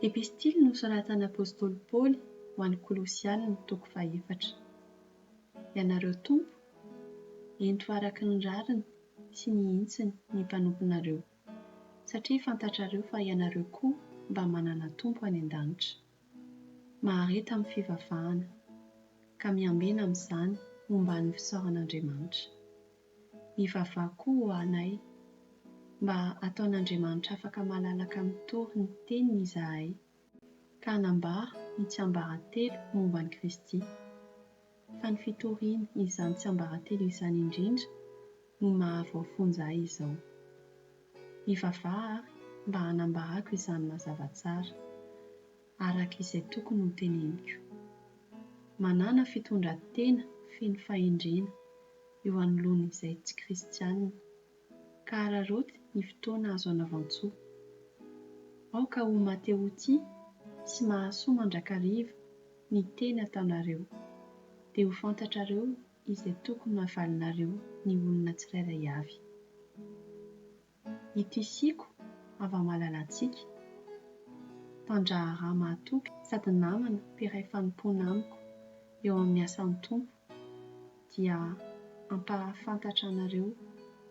Epistily nosoratan'apostoly Paoly ho an'ny Kolosiana, toko fahefatra. Ianareo tompo, ento araka ny rariny sy ny hintsiny ny mpanomponareo, satria fantatrareo fa ianareo koa mba manana Tompo any an-danitra. mahareta amin'ny fivavahana ka miambena amin'izany omban'ny fisaoran'Andriamanitra. Mivavaha koa ho anay mba hataon'Andriamanitra afaka malalaka mitory ny teniny izahay ka hanambara ny tsiambaratelo momba an'i Kristy. fa ny fitorian' izany tsiambaratelo izany indrindra no mahavoafonja ahy izao. Hivavaha ary mba hanambarako izany mazava tsara, araka izay tokony ho teneniko. Manàna fitondran-tena feno fahendrena eo anoloan' izay tsy kristiana ka hararaoty ny fotoana azo anavan-tsoa. Aoka ho mateo-tia sy mahasoa mandrakariva ny teny ataonareo, dia ho fantatrareo izay tokony havalinareo ny olona tsirairay avy. Ity Siko hava-malalantsika, mpandraharaha mahatoky sady namana mpiray fanompoana amiko eo amin'ny asan'ny Tompo, dia hampahafantatra anareo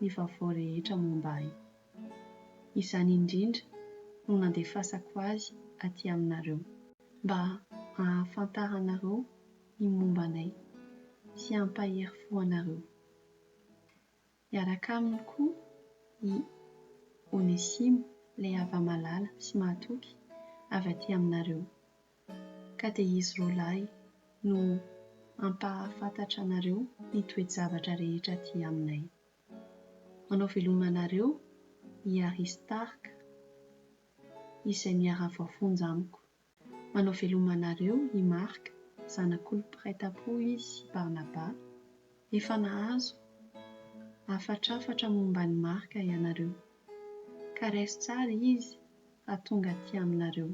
ny vaovao rehetra momba Ahy. Izany indrindra no nandefasako azy aty aminareo, mba hahafantaranareo ny momba Anay sy hampahery fo anareo. Hiaraka aminy koa i Onesimo, ilay hava-malala sy mahatoky avy aty aminareo. Ka dia izy roa lahy no hampahafantatra anareo ny toe-javatra rehetra aty aminay. Manao veloma anareo i Aristarka, izay miara-voafonja amiko. Manao veloma anareo i Marc, zanak'olo mpiray tampo izy i Barnaba. Efa nahazo hafatrafatra momba an'i Marc ianareo. Ka raiso tsara izy fa tonga aty aminareo.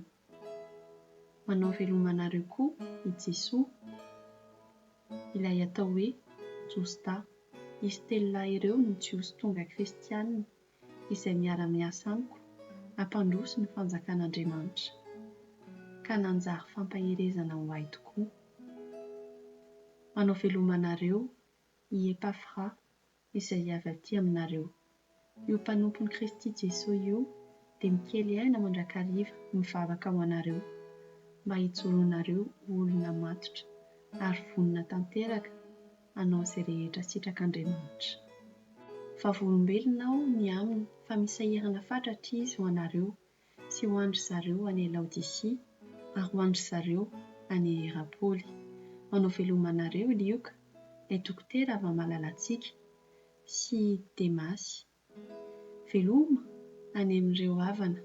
Manao veloma anareo koa i Jesoa, ilay atao hoe Josta. Izy telo lahy ireo no Jiosy tonga kristianina izay miara-miasa amiko hampandroso ny fanjakan'Andriamanitra, ka nanjary fampaherezana ho ahy tokoa. Manao veloma anareo i Epafra izay avy aty aminareo. Io mpanompon'i Kristy Jesoa io dia mikely aina mandrakariva mivavaka ho anareo, mba hijoronareo ho olona matotra ary vonona tanteraka, hanao izay rehetra sitrak'Andriamanitra. Vavolombelona aho ny aminy fa misy sahirana fatratra izy ho anareo sy ho an-dry zareo any Laodisia ary ho an-dry zareo any Hierapoly. Manao veloma anareo i Lioka, ilay dokotera avy amin'ny malalantsika, sy Demasy. Veloma any amin'ireo havana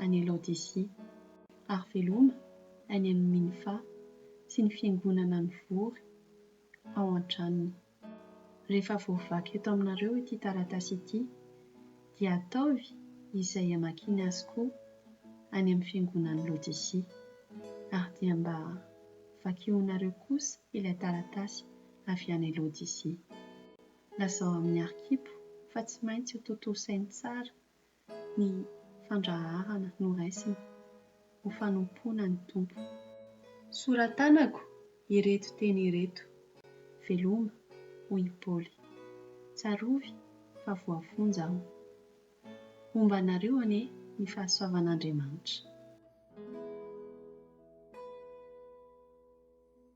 any Laodisia, ary veloma any amin'i Minfa sy ny fiangonana mivory ao an-tranony. Rehefa voavaky eto aminareo ity taratasy ity, dia ataovy izay hamakiany azy koa any amin'ny fiangonan'i Laodisia. Ary dia mba vakionareo kosa ilay taratasy avy any Laodisia. Lazao amin'ny arkipo fa tsy maintsy ho tontosainy tsara ny fandraharana noraisina ho fanompoana ny Tompo. Soratanako ireto teny ireto, veloma, hoy i Paoly. Tsarovy fa voafonja aho. Homba anareo anie ny fahasoavan'Andriamanitra.